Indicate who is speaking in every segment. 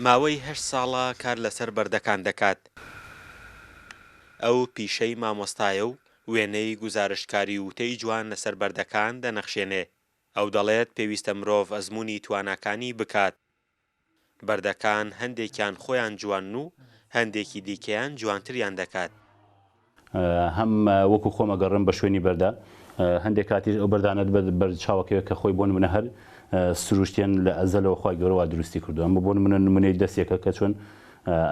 Speaker 1: ماوەی هەشت ساڵە کار لەسەر بەردەکان دەکات، ئەو پیشەی مامۆستایە و وێنەی گوزارشتکاری و وتەی جوان لەسەر بەردەکان دەنەخشێنێ، ئەو دەڵێت پێویستە مرۆڤ ئەزموونی تواناکانی بکات، بەردەکان هەندێکیان خۆیان جوانن و هەندێکی دیکەیان جوانتریان دەکات.
Speaker 2: هەم وەکو خۆم ئەگەڕێم بە شوێنی بەردا، هەندێک کاتیش ئەو بەردانەت بە بەرد چاوەکەوێ کە خۆی بۆ نمونە هەر سروشتیان لە ئەزەلەوە خوای گەورە وا دروستی کردوە ئەمە بۆ نمونە نمونەی دەسێکە کە چۆن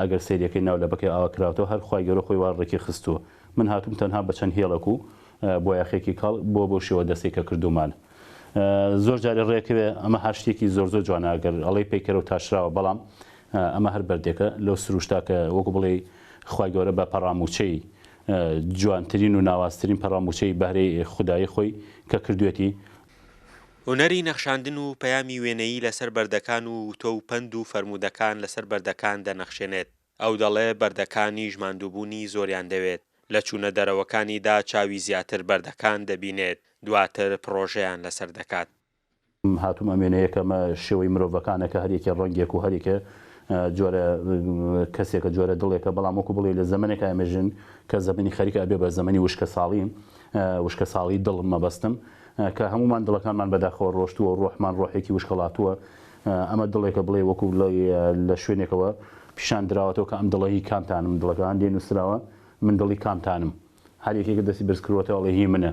Speaker 2: ئەگەر سەیرەکەی ناو لەبەکەی ئاوا کراوتەوە هەر خوای گەورە خۆی وا ڕێکی خستوە من هاتوم تەنها بە چەند هێڵەک و بۆیاخێکی کاڵ بۆ بەو شێوە دەسەی کە کردومانە زۆر جاری ڕێکەوێ ئەمە هەر شتێکی زۆر زۆر جوانە ئەگەر ئەڵێی پەیکەرە و تاشراوە بەڵام ئەمە هەر بەردێکە لەو سروشتا کە وەکو بڵێ خوای گەورە بە پەڕامووچەی جوانترین و ناوازترین پەڕامووچەی بەهرەی خودایی خۆی کە کردوویەتی.
Speaker 1: هونەری نەخشاندن و پەیامی وێنەیی لەسەر بەردەکان و وتۆ و پەند و فەرموودەکان لەسەر بەردەکان دەنەخشێنێت. ئەو دەڵێ بەردەکانیش ماندووبوونی زۆریان دەوێت، لە چوونە دەرەوەکانیدا چاوی زیاتر بەردەکان دەبینێت، دواتر پڕۆژەیان لەسەر دەکات. هاتووم
Speaker 2: ئەم وێنەیە کەمە شێوەی مرۆڤەکانە کە هەر یەکێ ڕەنگێک و هەر یەکێ جۆرە کەسێکە جۆرە دڵێکە بەڵام وەکو بڵێی لە زەمەنێکا ئێمە ژین کە زەمەنی خەریکە ئەبێ بە زەمەنی وشکەساڵی وشکەساڵی دڵ مەبەستم کە هەموومان دڵەکانمان بەداخەوە ڕۆشتووە و ڕۆحمان ڕۆحێکی وشکەڵاتووە ئەمە دڵێکە بڵێ وەکو بڵێی لە شوێنێکەوە پیشان دراوەتەوە کە ئەم دڵە هی کامتانم دڵەکە هەندێ نووسراوە من دڵی کامتانم هەر یەکێکە دەستی بەرز کردووەتەوە ئەڵێ هی منە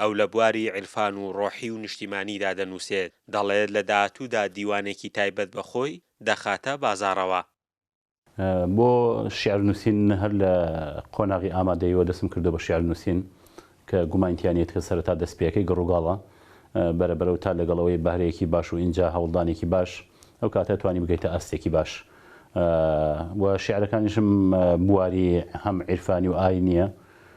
Speaker 1: ئەو لە بواری عیرفان و ڕۆحی و نیشتیمانیدا دەنووسێت، دەڵێت لە داهاتوودا دیوانێکی تایبەت بە خۆی دەخاتە بازاڕەوە.
Speaker 2: بۆ شیعر نووسین هەر لە قۆناغی ئامادەییەوە دەستم کردووە بە شیعر نووسین کە گومانی تیا نییە کە سەرەتا دەستپێیەکەی گڕوگاڵە بەرە بەرە و تا لەگەڵ ئەوەی بەهرەیەکی باش و ئینجا هەوڵدانێکی باش ئەو کاتە ئەتوانی بگەیتە ئاستێکی باش و شیعرەکانیشم بواری هەم عیرفانی و ئاینییە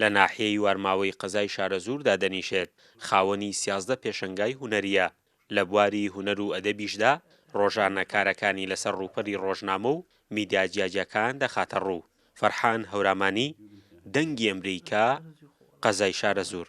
Speaker 1: لە ناحیەی وارماوەی قەزای شارەزوور دادەنیشێت، خاوەنی سیازدە پێشەنگای هونەرییە، لە بواری هونەر و ئەدەبیشدا ڕۆژانە کارەکانی لەسەر ڕووپەری ڕۆژنامە و میدیا جیاجیاکان دەخاتە ڕوو، فەرحان هەورامانی، دەنگی ئەمریکا، قەزای شارەزوور.